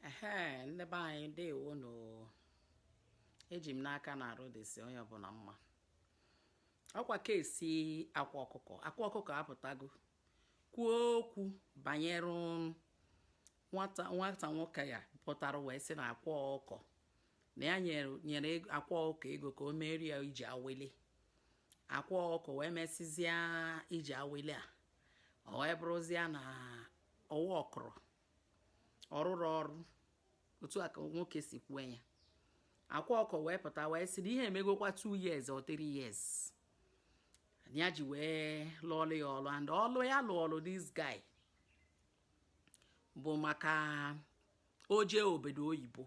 ehe ndị be anyị ndewo nụ eji m n'aka na arụ dịsị onye ọbụla mma ọkwa case akwa ọkụkọ akwa ọkụkọ apụtago kwuo okwu banyere nwata nwoke ya pụtara wee sị na akwa ọkụkọ na ya nyere akwa ọkụkọ ego ka o meere ya ije awele akwa ọkụkọ wee mesịzịa ije awele a ọ wee bụrụzịa na ọ workụrọ ọ rụrọ ọrụ otu a ka nwoke si kwue ya akwa ọkụkọ wee pụta wee sị na ihe emegokwa 2 years or 3 years ya ji wee lụọlụ ya ọlụ and ọlụ ya lụọlụ this guy bụ maka oje obodo oyibo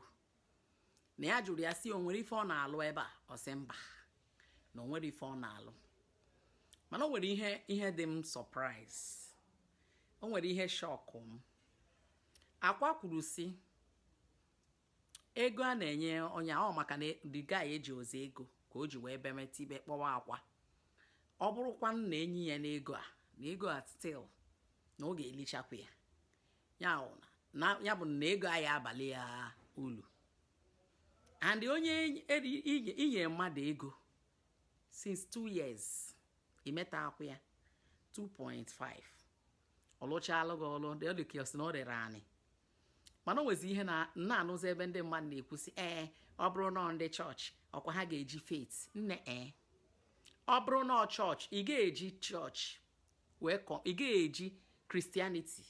na ya jụrụ ya sị o nwere ife ọ na-alụ ebe a ọ sị mba na o nwerọ ife ọ na-alụ mana o nwere ihe dị m surprise o nwere ihe shock m akwa kwuru sị ego a na-enye onye ahụ maka na the guy ejirọzi ego ka o ji wee bemeta ibe kpọwa akwa ọ bụrụkwa na e nye ya n'ego a na ego a still na ọ ga-elichakwa ya ya bụ na ego a ya abalị ya ulu and onye inye mmadụ ego since two years imeta akwụ ya 2.5 ọ lụchalụ gị ọlụ dị ọdụ kios na o rere anyị mana o nwezi ihe m na-anụzi ebe ndị mmadụ na-ekwusị ee ọ bụrụ na ndị chọọchị ọkwa ha ga-eji faith nne ee ọ bụrụ na chọọchị ị ga-eji chọọchị wee kọ ị ga-eji christianity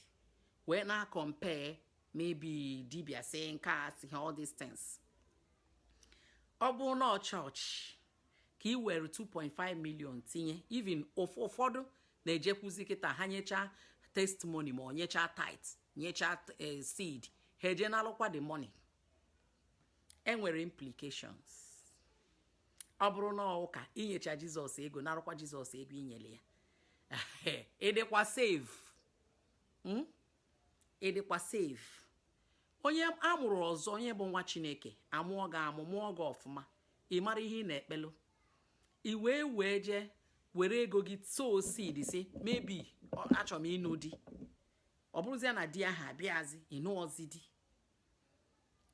wee na-acompare maybe dibịa si nke a si ha all these things ọ bụrụ na chọọchị ka i were 2.5 million tinye even ụfọdụ na-ejekwuzi kịta ha nyechaa testimony ma nyechaa tithe nyechaa eh, seed ha eje nalụkwa the money enwere implications ọ bụrụ n'ụka i nyechaa jizọs ego narụkwa jizọs ego i nyere ya ị dịkwa safe hmm? ị dịkwa safe onye a mụrụ ọzọ onye bụ nwa chineke amụọ gị amụ mụọ gị ọfụma ị mara ihe ị na-ekpelụ i wee i wee jee were ego gị sow seed sị maybe achọrọ m ịnụ di ọ bụrụzịa na di ahụ abịazi ị nụọzi di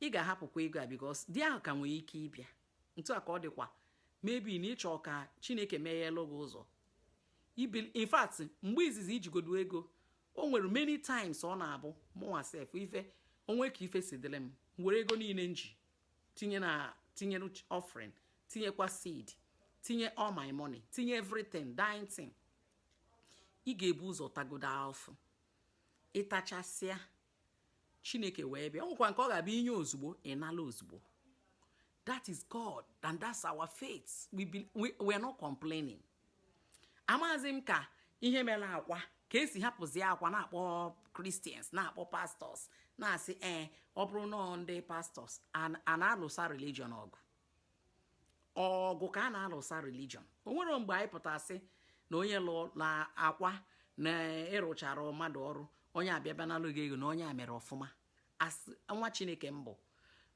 ị ga-ahapụkwa ego a because di ahụ ka nwere ike ịbịa Otu a ka ọ dịkwa maybe na ị chọọ ka Chineke megheelụ gị ụzọ. Ibil- In fact, mgbe izizi i jigodu ego, o nwere many times ọ na-abụ mụnwa sef ife o nwe ka ife si dịlị m m were ego niile m ji tinye na tinye n'uch- offering tinyekwa seed tinye all my money tinye everything the thing ị ga-ebu ụzọ tagodu afụfụ ị tachasịa chineke wee bịa o nwekwa nke ọ ga-abụ i nye ozugbo ị nala ozugbo that is god and that's our faith we, be, we, we are not complaining amazi m ka ihe mere akwa ka esi hapụzi akwa na-akpọ christians na-akpọ pastors na-asị ee eh, ọ bụrụ na ndị pastors a na-alụsa religion ọgụ ọgụ ka a na-alụsa religion o nwere mgbe anyị pụtasị na onye lụ na akwa na ị rụchara mmadụ ọrụ onye abịa nalụ gị ego na onye a mere ọfụma as nwa chineke m bụ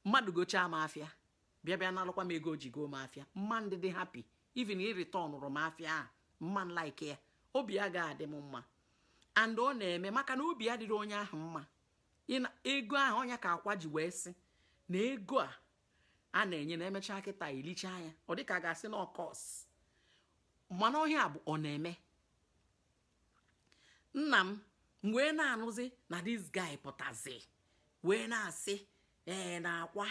mmadụ gochaa m afịa bịa bịa nalụkwa m ego o ji goo m afịa m ma-adị happy even ị returnụrụ m afịa ahụ m ma like ya obi a ga-adị m mma and ọ na-eme maka na obi ya dịrị onye ahụ mma ego ahụ ọ nya ka akwa ji wee sị na ego a a na-enye na emechaa kịta i lechaa ya ọ dịka a ga-asị na ọ curse mana ọ ihe a bụ ọ na-eme nna m m wee na-anụzi na this guy pụtazi wee na-asị ee na akwa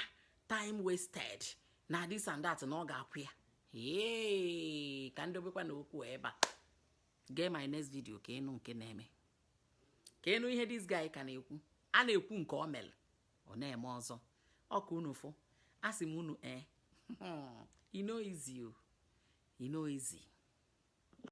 time wasted na this and that na ọ ga-akwụ ya ee ka m dobekwanụ okwu ebe a gee my next video ka ị nụ nke na-eme ka ị nụ ihe this guy ka na-ekwu a na-ekwu nke ọ mere ọ na-eme ọzọ ọ ka unu fụ asị m unu ee eh, e no easy o e no easy